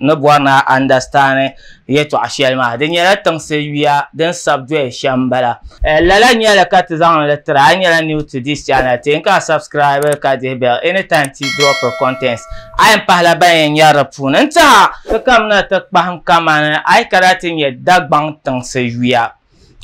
ni bɔri ni a andasitani yɛtɔɣ shɛli maa, di nyɛla tiŋsi yuya din sabi doya shɛm m-bala. Lala nyɛli ka ti zaŋ li tiri a. A nyɛla new to this channel, ti n ka subscribe ka dihi bell any time ti dropiri contents. A yɛn pahila ban yɛn nyari di puuni n-tihi a. Ti kamina ti kpahim kamani a yi kana ti nyɛ Dagbaŋ tiŋsi yuya.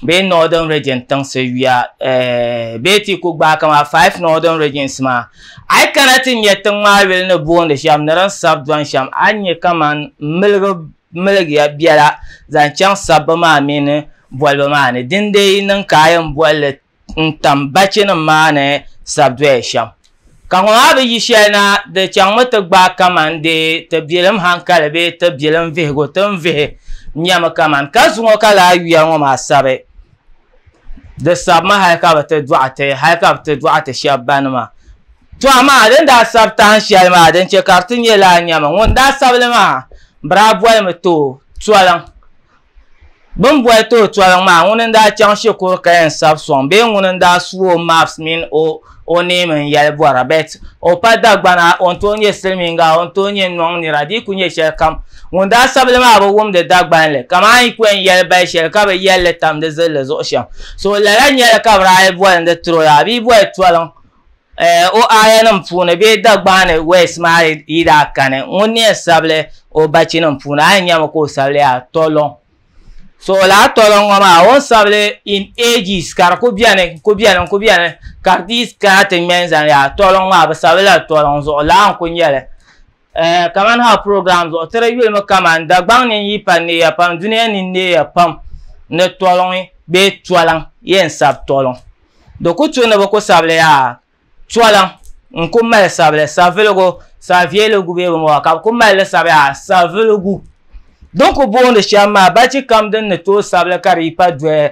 bee northern region tiŋsi yuya eh, bee teeku gbaai kama five northern regions maa a yi kana ti nyɛ tiŋ maa yuli ni boondi shɛm ni din sabi dɔni shɛm a ni nyɛ kaman miligi miligiya biɛla zaŋ chaŋ sabbu maa mini bolibu maa ni dindee yi niŋ ka a yɛn boli li n tam bachinim maa ni sa doya shɛm. Ka ŋɔ maa bi yi shɛli na, di chaŋmi ti gbaai kaman dee ti biɛlim haŋkali bee ti biɛlim vihigu ti ni vihi nyɛmi kaman ka zuŋɔ ka lala yuya ŋɔ maa sabi. Di sabimi hal ka bi ti dɔɣi ti, hal ka bi ti dɔɣi ti shɛb bani maa. Tɔ amaa di ni daa sabi tahin shɛli maa, din chɛ ka di ti nyɛ lala nyɛmi, ŋun daa sabi li maa, bɛ daa bolimi ti o Toliŋ. Bɛ ni boli ti o toliŋ maa, ŋuni n-daa chaŋ shikuru kaya n-sabi sɔŋ bee ŋuni n-daa su o maps mini o o neem n-yɛli bɔra? But o pa Dagbana, o ni tooi nyɛ Silimiinga, o ni tooi nyɛ Nɔŋ nira, di yi kuli nyɛ shɛlikam, ŋun daa sabi li maa bi wumdi Dagbanli, kaman yi pɔi n-yɛli bali shɛli ka bi yɛli li tam di zilli zuɣu shɛm. So lala nyɛla ka bi daa yi boli ni di tiri o ya, a bi yi boli toliŋ. o aayanim puuni bee Dagbaani West maa yi daa kani ŋun ni yɛn sabili o bachinim puuni a yi nyami ka o sabili yaa Tolɔŋ so lala Tolɔŋ ŋɔ maa o ni sabili in ages ka di ku beni n-ku beni n-ku beni ka di ti kana ti ŋme n-zani yaa Tolɔŋ maa bɛ sabili la Tolɔŋ zuɣu lala n-ku nyɛli Eh, kaman ha program zuɣu tiri yulimi kaman Dagbaŋ ni n-yi pa neeya pam dunia ni neeya pam ni tɔliŋ bee tɔliŋ yɛn sabi tɔliŋ di ku tu ni bi ku sabili yaa tɔliŋ n-ku mali sabili saviligu savieligu bee bini bɔŋɔ ka bi ku mali li sabi yaa saviligu din ku boondi shɛm maa bachikam din ni tooi sabili ka di yi pa dɔya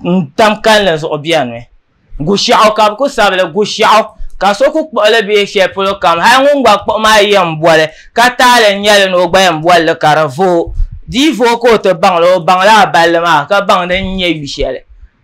N tam kalinli zuɣu biɛni Gushɛɣu ka bɛ kuli sabi li Gushɛɣu ka so kuli kpuɣi li bee shɛli polo kam hali ŋun gba kpuɣi maa yɛn boli ka taali n-nyɛ li ni o gba yɛn boli li ka di vooi di yi vooi ka o ti baŋ li o baŋla a balli maa ka baŋ din nyɛ yu shɛli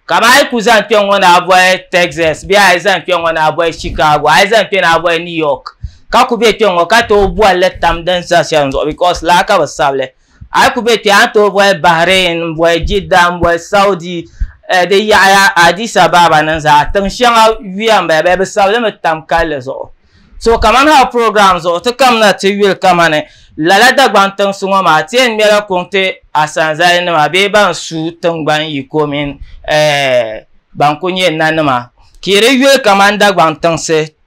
kamani a yi kuli zaŋ kpɛŋŋɔ ni a boli Texas bee a yi zaŋ kpɛŋŋɔ ni a boli Chicago a yi zaŋ kpɛ ni a boli New York ka kuli be kpɛŋŋɔ ka tooi boli li tam din sa shɛli zuɣu because lala ka bɛ sabi li a yi ku be kpe a ni tooi boli Bahrain n boli Jidda n boli Saudi eh, di yaɣaya Addis Ababa ni zaa tiŋ shɛŋa yuya n bala bee bi sabi li mi tam kalli zuɣu so kamani hali program zuɣu ti kamina ti yuli kamani lala Dagbaŋ tiŋsi ŋɔ maa ti yɛn ŋmɛla kuŋ ti asanzali nima bee ban su tiŋgbani yiko mini eh, ban ku nyɛ nanima ka yi di yuli kamani Dagbaŋ tiŋsi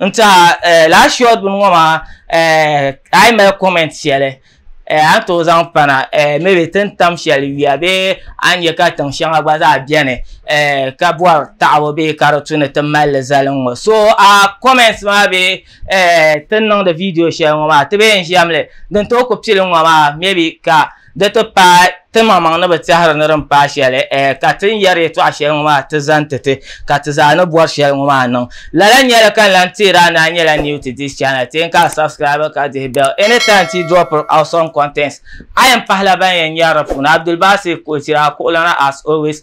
n tiɛha eh, last short bini ŋɔ maa eh, a yi mali comment shɛli eh, a ni tooi zaŋ pana eh, maybe ti ni tam shɛli yuya bee a ni nyɛ ka tiŋ shɛŋa gba zaa bɛni eh, ka bɔri taɣabu bee ka di tu ni ti mali li zali n ŋɔ so a comments maa bee eh, ti ni niŋdi video shɛli ŋɔ maa ti bee n ʒiɛm li din tooi ku pili n ŋɔ maa maybe ka Di ti paai ti maŋmaŋ ni bi tɛhiri ni din paai shɛli, ɛɛ, ka ti ni yɛri yɛtɔɣ shɛli ŋɔ maa ti zaŋ ti ti, ka ti zaa ni bɔri shɛli ŋɔ maa niŋ. Lala nyɛli ka n lan teeri a ni a nyɛla new to this channel, teei ka a subscribe ka dihi bell anytime ti yi dropiri awesome contents. A yɛn pahila ban yɛn nyɛri di puuni, Abdulbasit Kochira, a kuɣulana as always.